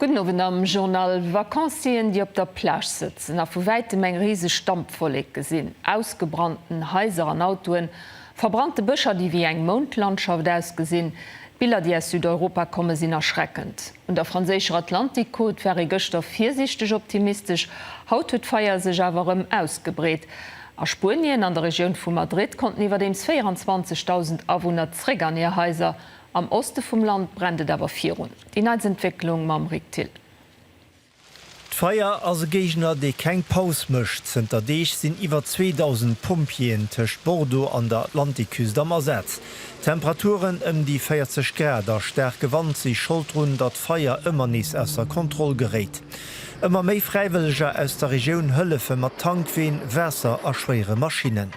Gudden Owend am Journal Vacancien, déi op der Plage sëtzen a vu wäitem eng riseg Dampwollek gesinn, ausgebrannten Haiser an Autoen, verbrannte Bëscher, déi wéi eng Moundlandschaft ausgesinn. D'Biller, déi aus Südeuropa kommen, sinn erschreckend. Un der franséischer Atlantik-Côte war ee gëschter virsiichteg optimistesch, haut huet d'Feier sech awer erëm ausgebreet. A Spuenien, an der Regioun vu Madrid, konnten iwwerdeems 24.000 Awunner zréck an hir Haiser. Am Oste vum Land brennt et awer virun. Déi neitst Entwécklung mam Rick Thill. D'Feier ass e Géigner, dee keng Paus mécht. Zënter Deeg sinn iwwer 2.000 Pompjeeën tëscht Bordeaux an der Atlantikküst am Asaz. Temperaturen ëm déi 40 Grad a staarke Wand si Schold drun, datt d'Feier ëmmer nees ausser Kontroll geréit. Ëmmer méi Fräiwëlleger aus der Regioun hëllefe mat Tankween, Waasser a schwéiere Maschinnen.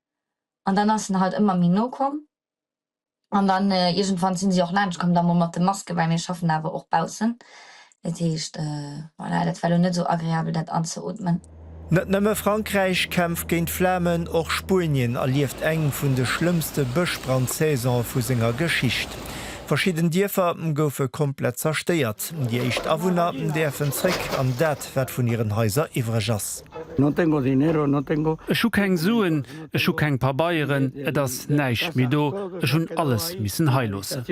an dann ass en halt ëmmer méi no komm an dann iergendwann sinn si och laanscht komm da mol mat de Masken, well mir schaffen awer och baussen, dat heescht voilà dat war elo net esou agreabel dat anzeootmen. Net nëmme Frankräich kämpft géint d'Flamen, och Spuenien erlieft eng vun de schlëmmste Bëschbrandsaisone vu senger Geschicht. Verschidden Dierfer goufe komplett zerstéiert, déi éischt Awunner däerfen zréck an dat wat vun hiren Haiser iwwreg ass. Ech hu keng Suen, ech hu keng Pabeieren, et ass näischt méi do, ech hunn alles missen hei loossen.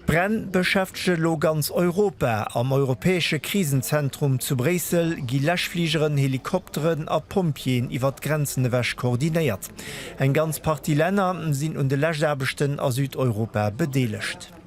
D'Bränn beschäftegen elo ganz Europa. Am europäesche Krisenzentrum zu Bréissel gi Läschfligeren, Helikopteren a Pompjeeën iwwer d'Grenzen ewech koordinéiert. Eng ganz Partie Länner sinn un de Läschaarbechten a Südeuropa bedeelegt.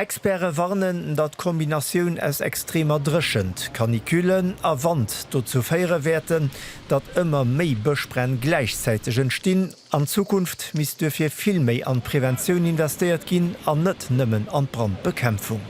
Experte warnen, datt d'Kombinatioun aus extremer Dréchent, Canicule, a Wand dozou féiere wäerten, datt ëmmer méi Bëschbränn gläichzäiteg entstinn. An Zukunft misst duerfir vill méi an d'Preventioun investéiert ginn an net nëmmen an d'Brandbekämpfung.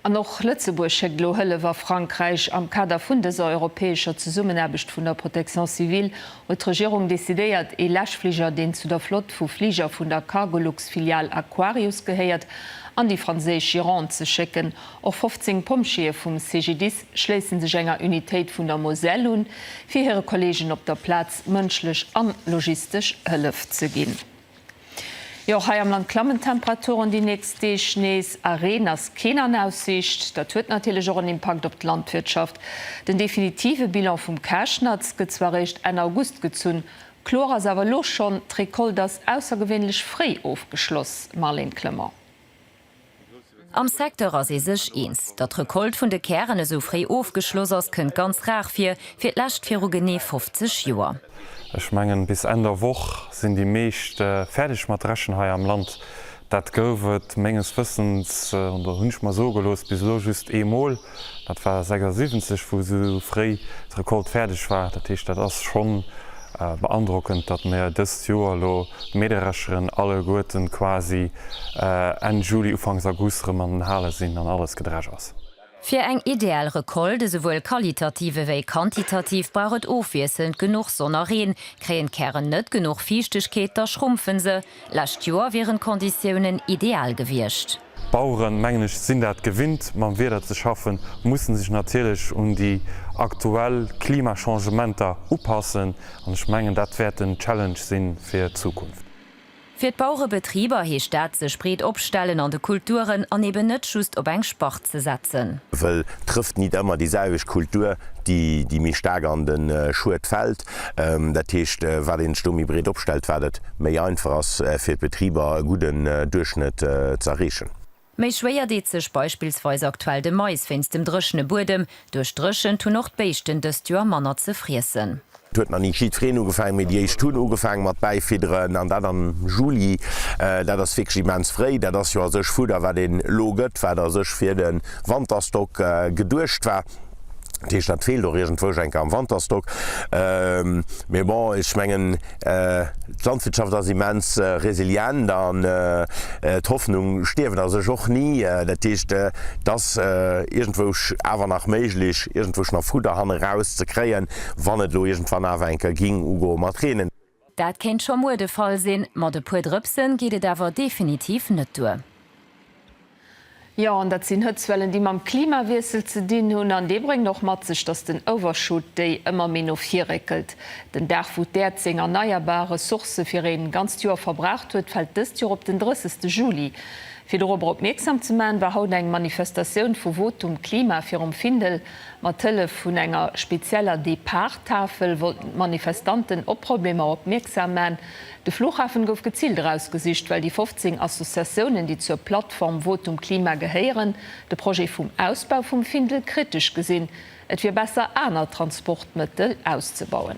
An och Lëtzebuerg schéckt elo Hëllef a Frankräich. Am Kader vun dëser europäescher Zesummenaarbecht vun der Protection civile huet d'Regierung decidéiert, ee Läschfliger, deen zu der Flott vu Fliger vun der Cargolux-Filial Aquarius gehéiert, an déi franséisch Gironde ze schécken. Och 15 Pompjeeë vum CGDIS schléisse sech enger Unitéit vun der Moselle un, fir hire Kolleegen op der Plaz mënschlech an logistesch Hëllef ze ginn. Jo, hei am Land klammen d'Temperaturen déi nächst Deeg nees, a Reen ass keen an Aussiicht. Dat huet natierlech och en Impakt op d'Landwirtschaft. Den definitive Bilan vum Käschnatz gëtt zwar eréischt Enn August gezunn, kloer ass awer elo schonn, D'Recolte ass aussergewéinlech fréi ofgeschloss, Marlène Clement. Am Secteur ass ee sech eens, Datt d'Recolte vun de Kären esou fréi ofgeschloss ass, kënnt ganz rar vir, fir d'lescht viru genee 50 Joer. Ech mengen, bis Enn der Woch sinn déi meescht fäerdeg mat dreschen hei am Land. Dat gouf et menges Wëssens, oder hunn ech mer soe gelooss, bis elo just eemol. Dat war 76 wou sou fréi d'Recolte fäerdeg war. Dat heescht dat ass schonn beandrockend, datt mir dëst Joer elo d'Mähdrescheren alleguerten quasi Enn Juli Ufanks August rëm an den Hale sinn an alles gedresch ass. Fir eng ideal Recolte, esouwuel qualitativ ewéi quantitativ, brauch et ofwiesselnd genuch Sonn a Reen. Kréien d'Kären net genuch Fiichtegkeet, da schrumpfen se. Lescht Joer wieren d'Konditiounen ideal gewiescht. D'Baueren, mengen ech, sinn dat gewinnt, mam Wieder ze schaffen, mussen sech natierlech un déi aktuell Klimachangementer upassen an ech mengen, dat wäert en Challenge si fir d'Zukunft. Fir d'Bauerebetriber heescht dat, sech breet opstellen an de Kulturen an eben net just op eng Spart ze setzen. Well trëfft nit ëmmer déi selwecht Kultur, déi méi staark an de Schued fält. Dat heescht, wat een sech do méi breet opstellt, wat et méi einfach ass fir d'Betriber e gudden Duerchschnëtt ze erreechen. Méi schwéier deet sech beispillsweis aktuell de Mais wéinst dem dréchene Buedem. Duerch d'Dréchent hunn och d'Béischten dëst Joer manner ze friessen. Et huet nach ni jiddwereen ugefaangen, mee déi éischt hunn ugefaangen mat Bäifidderen, an dat am Juli. Dat ass wierklech immens fréi. Dat ass jo a sech Fudder, wat een elo gëtt, wat a sech fir de Wanterstock geduecht war. Produkt. Dat heescht, dat feelt och iergendwou ech enke am Wanterstock. Mee bon, ech mengen, d'Landwirtschaft ass immens resilient an d'Hoffnung stierft a sech och ni. Dat heescht, et ass iergendwou awer nach méiglech, iergendwou nach Fudder hanne raus ze kréien, wann et elo iergendwann awer enke géing ugoe mat reenen. Dat kéint scho muer de Fall sinn, mat e puer Drëpse geet et awer definitiv net duer. Jo, an dat sinn Hëtzwellen, déi mam Klimawiessel ze dinn hunn. An dee bréngt och mat sech, datt den Overshoot Day ëmmer méi no vir réckelt. Den Dag, wou d'Äerd seng erneierbar Ressourcë fir ee ganzt Joer verbraucht huet, fält dëst Joer op den 30 Juli. Fir dorobber opmierksam ze maachen, war haut eng Manifestatioun vu Votum Klima virum Findel. Mat Hëllef vun enger spezieller Depart-Tafel wollten d'Manifestanten op Problemer opmierksam man. De Flughafen gouf geziilt erausgesicht, well déi 15 Associatiounen, déi zur Plattform Votum Klima gehéieren, de Projet vum Ausbau vum Findel kritesch gesinn. Et wier besser, aner Transportmëttel auszebauen.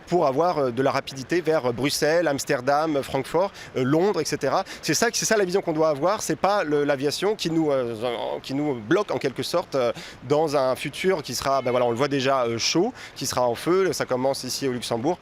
pour avoir de la rapidité vers Bruxelles, Amsterdam, Francfort, Londres, etc. C'est ça, c'est ça la vision qu'on doit avoir, c'est pas l'aviation qui nous, qui nous bloque en quelque sorte dans un futur qui sera, ben voilà, on le voit déjà, chaud, qui sera en feu, ça commence ici au Luxembourg.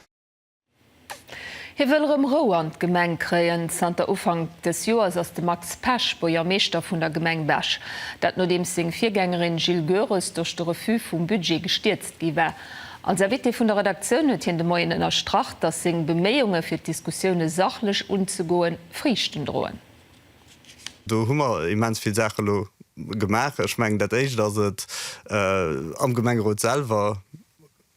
Hie wëll erëm Rou an d'Gemeng kréien. Zanter Ufank des Joers ass de Max Pesch Buergermeeschter vun der Gemeng Bech. Dat nodeems seng Virgängerin Jil Goerens duerch de Refus vum Budget gestierzt gi war. Als Invité vun der Redaktioun huet hien de Moien ënnerstrach, datt seng Beméiunge fir d'Diskussioune sachlech unzegoen, Friichten droen. Do hu mer immens vill Saache elo gemaach. Ech mengen, dat éischt ass et, am Gemengerot selwer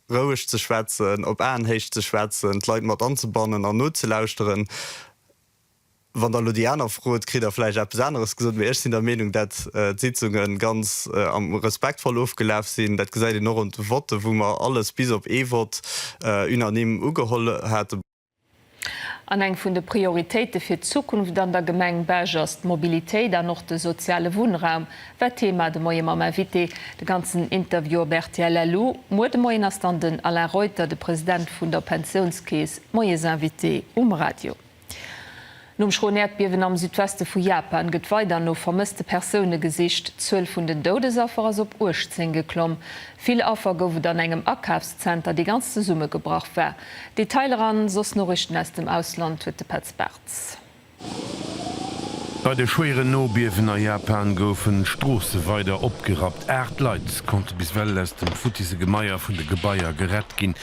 roueg ze schwätzen, op Aenhéicht ze schwätzen, d'Leit mat anzebannen an nozelauschteren. Wann der elo déi aner frot, kritt der vläicht eppes aneres gesot. Mee ech sinn der Meenung, dat d'Sitzunge ganz respektvoll ofgelaf sinn. Dat gesäit een och un de Votten, wou mer alles bis op ee Vott unanime ugeholl haten. An eng vun de Prioritéite fir d'Zukunft an der Gemeng Bech ass d'Mobilitéit an och de soziale Wunnraum, war Thema de Moie mam Invité. De ganzen Interview op rtl LU. Muer de Moien ass dann den Alain Reuter, de President vun der Pensiounskeess, Moiesinvité um Radio. Nom schroen Äerdbiewen am Südweste vu Japan gëtt weider no vermësste Persoune gesicht. D'Zuel vun den Doudesaffer ass op 18 geklomm. Vill Affer gouf et an engem Akafszenter, dee ganz zesummegebrach war. Detailer a soss Noriichten aus dem Ausland huet de Petz Bartz. Bei de schwéieren Nobiewen a Japan goufen d'Stroosse weider opgerappt. Aacht Leit konnte bis ewell aus dem futtise Gemaier vun de Gebaier gerett ginn.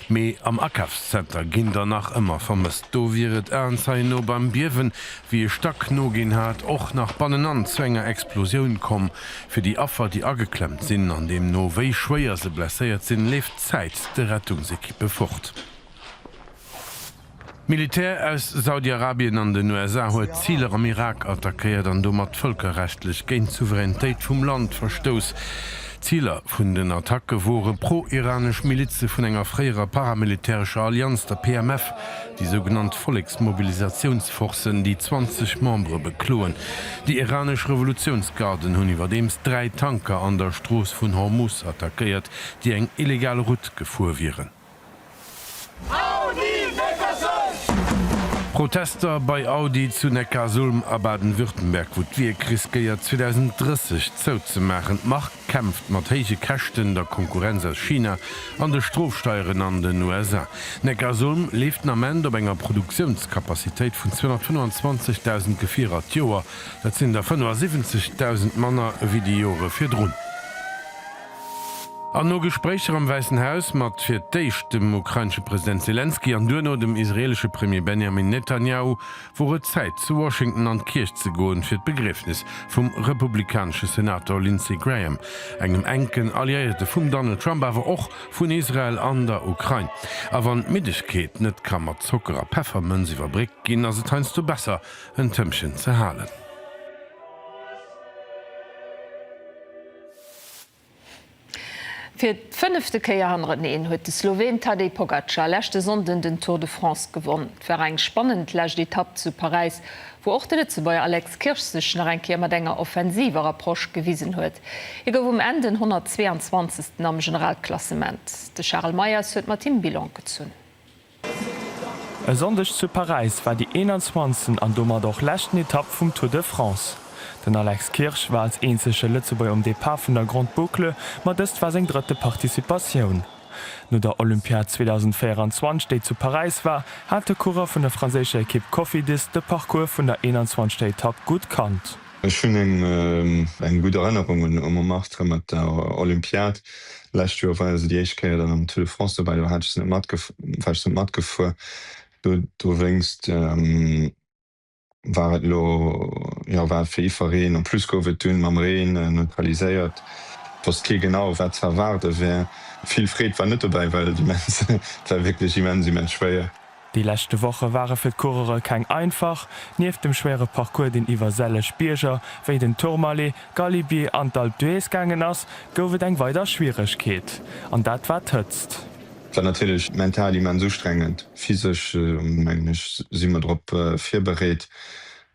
Mee am Akafszenter ginn der nach ëmmer vermësst. Do wier et Aenzeien no beim Biewen, wéi e Stack noginn hat, och nach bannenan zu enger Explosioun komm. Fir déi Affer, déi ageklemmt sinn an deemno wéi schwéier se blesséiert sinn, leeft d'Zäit de Rettungsekippe fort. D'Militär aus Saudi-Arabien an den USA huet Ziler am Irak attackéiert an domat vëlkerrechtlech géint d'Souveränitéit vum Land verstouss. Ziler vun den Attacke wore pro-iranesch Milize vun enger fréierer paramilitärescher Allianz, der PMF, déi sougenannt Volleksmobilisatiounsforcen, déi 20 Membere bekloen. Déi iranesch Revolutiounsgarden hunn iwwerdeems dräi Tanker an der Strooss vun Hormus attackéiert, déi eng illegal Route gefuer wieren. Audi Neckarsulm! Protester bei Audi zu Neckarsulm a Baden-Württemberg, wou d'Wierk riskéiert 2030 zouzemaachen. D'Mark kämpft mat héije Käschten, der Konkurrenz aus China an de Strofsteieren an den USA. Neckarsulm leeft den Ament op enger Produktiounskapazitéit vun 225.000 Gefierer d'Joer. Dat sinn der 75.000 manner ewéi déi Jore virdrun. An no Gespréicher am Wäissen Haus mat fir d'éischt dem ukrainesche President Selenskyj an duerno dem israeelesche Premier Benjamin Netanjahu wor et Zäit, zu Washington an d'Kierch ze goen, fir d'Begriefnis vum republikanesche Senator Lindsey Graham, engem enken Alliéierte vum Donald Trump, awer och vun Israel an der Ukrain. A wann d'Middegkeet net ka mat Zocker a Peffermënz iwwerbréckt ginn, ass et heiansdo besser, en Tëmpchen ze halen. Fir d'fënnefte Kéier hannereneen huet de Sloween Tadej Pogacar leschte Sonnden den Tour de France gewonn. Et war eng spannend lescht Etapp zu Paräis, wou och de Lëtzebuerger Alex Kirsch sech nach eng Kéier mat enger offensiver Approche gewisen huet. Hie gouf um Enn den 122. am Generalklassement. De Charel Meyers huet mat him Bilan gezunn. E Sonndeg zu Paräis war déi 21. an domat och leschten Etapp vum Tour de France. Den Alex Kirsch war als eenzege Lëtzebuerger um Depart vun der Grande Boucle, ma dëst war seng drëtte Participatioun. No der Olympiad 2024, déi zu Paräis war, hat de Coureur vun der franséischer Ekipp Cofidis de Parcours vun der 21. Etapp gutt kannt. Ech hunn eng gutt Erënnerung un Montmartre mat der Olympiad. Lescht Joer war se déi éischt Kéier dann am Tour de France dobäi. Do hat ech se net matgef, war ech net matgefuer. Do dowéinst war et elo, jo, war et fir iwwereen. En plus gouf et dunn mam Reen neutraliséiert. Et wosst kee genau, wat ze erwaarde wär. Vill Freed war net dobäi, well et immens, et war wierklech immens, immens schwéier. Déi leschte Woche ware fir d'Coureure keng einfach. Nieft dem schwéiere Parcours, deen iwwer selleg Bierger wéi den Tourmalet, Galibier an d'Alpe d'Huez gaangen ass, gouf et eng weider Schwieregkeet, an dat war d'Hëtzt. War natierlech mental immens ustrengend. Physesch, mengen ech, si mer drop virbereet.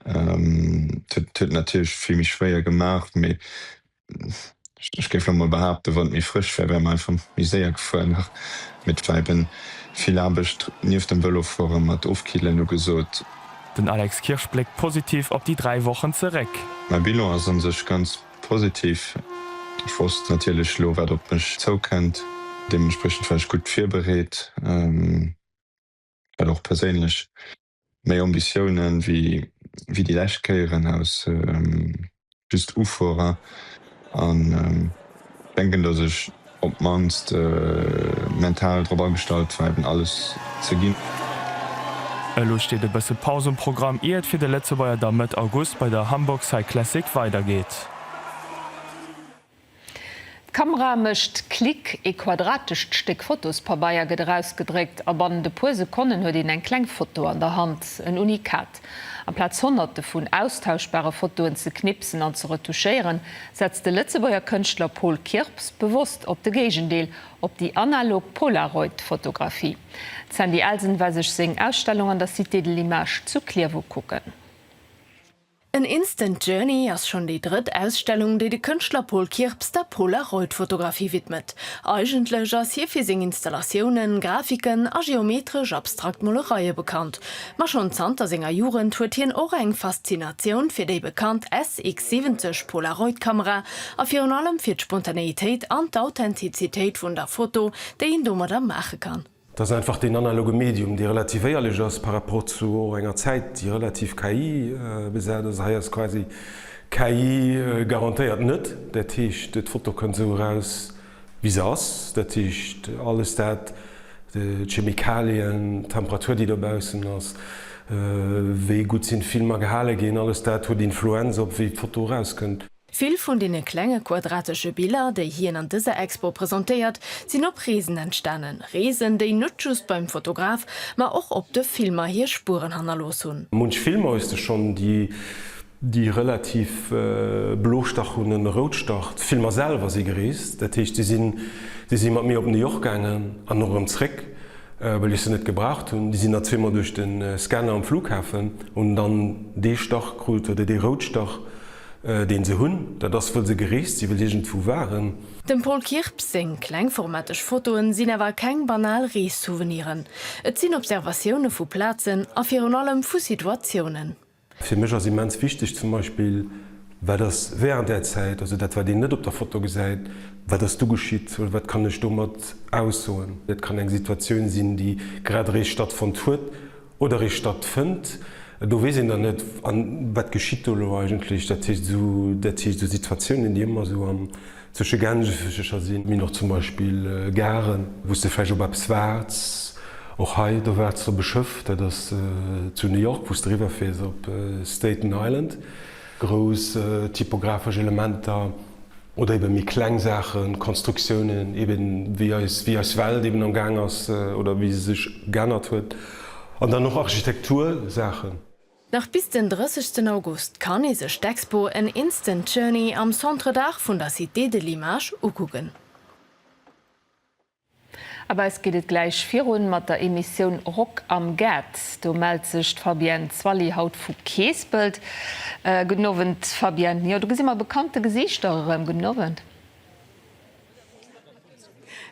Et huet natierlech vill méi schwéier gemaach, mee ech géif elo mol behaapten, wann et méi frësch wär, wär mer einfach méi séier gefuer nach. Mee et war eben vill Aarbecht nieft dem Vëlofuere mat Ofkillen ugesot. Den Alex Kirsch bléckt positiv op déi dräi Wochen zeréck. Mäi Bilan ass a sech ganz positiv. Ech wosst natierlech elo wat op mech zoukënnt. Deementspriechend war ech gutt virbereet, dat och perséinlech. Méi Ambitiounen wéi déi lescht Kéieren aus just Ufuerer an denken dass ech op d'mannst mental drop agestallt war eben alles ze ginn. Elo steet e bësse Paus um Programm ier et fir de Lëtzebuerger da Mëtt August bei der Hamburg Cyclassic weidergeet. D'Kamera mécht Klick, ee quadratescht Stéck Fotospabeier gëtt erausgedréckt a bannent e puer Sekonnen huet een eng kleng Foto an der Hand. En Unikat. Amplaz Honnerte vun austauschbare Fotoen ze knipsen an ze retouchéieren, setzt de Lëtzebuerger Kënschtler Paul Kirps bewosst op de Géigendeel, op déi analog Polaroid-Fotografie. D'Sandy Elsen war sech seng Ausstellung an der Cité de l'Image zu Clierf ukucken. An Instant Journey ass schonn déi drëtt Ausstellung, déi de Kënschtler Paul Kirps der Polaroid-Fotografie widmet. Eigentlech ass hie fir seng Installatiounen, Grafiken a geometresch abstrakt Molereie bekannt. Ma schonn zanter senger Jugend huet hien och eng Faszinatioun fir déi bekannt SX-70-Polaroid-Kamera a virun allem fir d'Spontaneitéit an d'Authentizitéit vun der Foto, déi een domadder maache kann. Et ass einfach deen analoge Medium, dee relativ éierlech ass par rapport zu och enger Zäit, déi relativ KI besat ass. Hei ass quasi KI garantéiert net. Dat heescht, d'Foto kënnt esou eraus, wéi se ass. Dat heescht, alles dat, d'Chemikalien, d'Temperatur, déi dobaussen ass, wéi gutt sinn d'Filmer gehale ginn, alles dat huet Influenz op wéi d'Foto erauskënnt. Vill vun deene klenge quadratesche Biller, déi hien an dëser Expo presentéiert, sinn op Reesen entstanen, Reesen, déi net just beim Fotograf, ma och op de Filmer hir Spueren hannerlooss hunn. Munch Filmer hues de schonn, déi déi relativ Blostach hunn, en Routstach. D'Filmer selwer si gereest, dat heescht, si sinn, déi si mat mir op New York gaangen an och erëm zréck, well ech se net gebraucht hunn. Déi sinn da zweemol duerch de Scanner um Flughafen, hunn dann dee Stach krut oder dee Routstach. deen se hunn, dat ass wëll se gereest sinn, wëll iergendwou waren. Dem Paul Kirps seng klengformateg Fotoen sinn awer keng banal Rees-Souveniren. Et sinn Observatioune vu Plazen a virun allem vu Situatiounen. Fir mech ass immens wichteg zum Beispill, wat ass während där Zäit, also dat wat een net op der Foto gesäit, wat ass du geschitt oder wat kann ech domat aussoen. Dat kann eng Situatioun sinn, déi grad eréischt stattfonnt huet. Oder ee statt fënnt, do weess een dann net, a wat geschitt do elo eigentlech. Dat heescht esou, dat heescht esou Situatiounen, déi ëmmer esou am zwësche Gänsefëschercher sinn. Mir hunn och zum Beispill Garen, wou s de vläicht op eppes waarts. Och hei, do waarts de op e Schëff, dat ass zu New York, wou s de eriwwer fiers op Staten Island. Grouss typografesch Elementer oder eben méi kleng Saachen, Konstruktiounen, eben wéi eis, wéi eis Welt eben am Gaang ass oder wéi se sech geännert huet. An dann och Architektursaachen. Nach bis den 30 sten August kann ee sech d'Expo An Instant Journey am Centre d'Art vun der Cité de l'Image ukucken. A bei eis geet et gläich virun mat der Emissioun Rock am Gaart. Do mellt sech d'Fabienne Zwally haut vu Keespelt. Gudden Owend Fabienne. Jo do gesi mer bekannte Gesiichter erëm. Gudden Owend.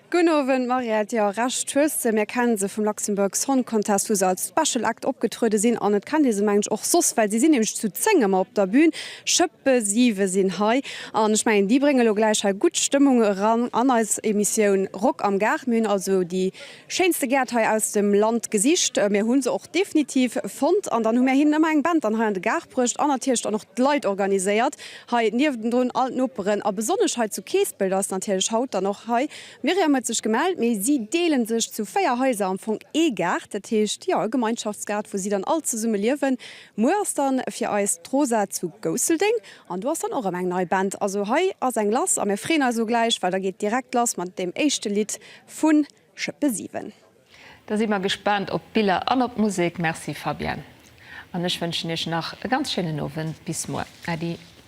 Gudden Owend Mariette. Jo Recht hues de, mir kenne se vum Luxembourg Song Contest wou se als Special Act opgetruede sinn an et kennt ee se mengen ech och soss well si sinn nämlech zu 10 ëmmer op der Bühn. Schëppe siwe sinn hei an ech mengen déi brénge lo gläich hei gutt Stëmmung eran an eis Emissioun Rock am Gaart. Mir hunn also déi schéinste Gäert hei aus dem Land gesicht, mir hu se och definitiv fonnt an dann hu mir hinnen ëmmer eng Band dann hei an de Gaart bruecht an natierlech dann och d'Leit organiséiert hei niewendrun, all d'Noperen a besonnesch hei zu Keespelt ass natierlech haut dann och hei d'Myriam huet sech gemellt, mee si deele sech zu véier Haiser am Fong ee Gaart, dat heescht, jo, e Gemeinschaftsgaart wou si dann all zesumme liewen. Muer ass dann fir eis d'Rosa zu Gousseldeng an do ass dann och erëm eng nei Band. Also hei ass eng lass a mir freeën eis elo gläich, well da geet direkt lass mat deem éischte Lidd vun Schëppe 7. Da si mer gespaant op d'Biller an op d'Musek. Merci Fabienne an ech wënschen iech nach e ganz schéinen Owend. Bis muer. Äddi.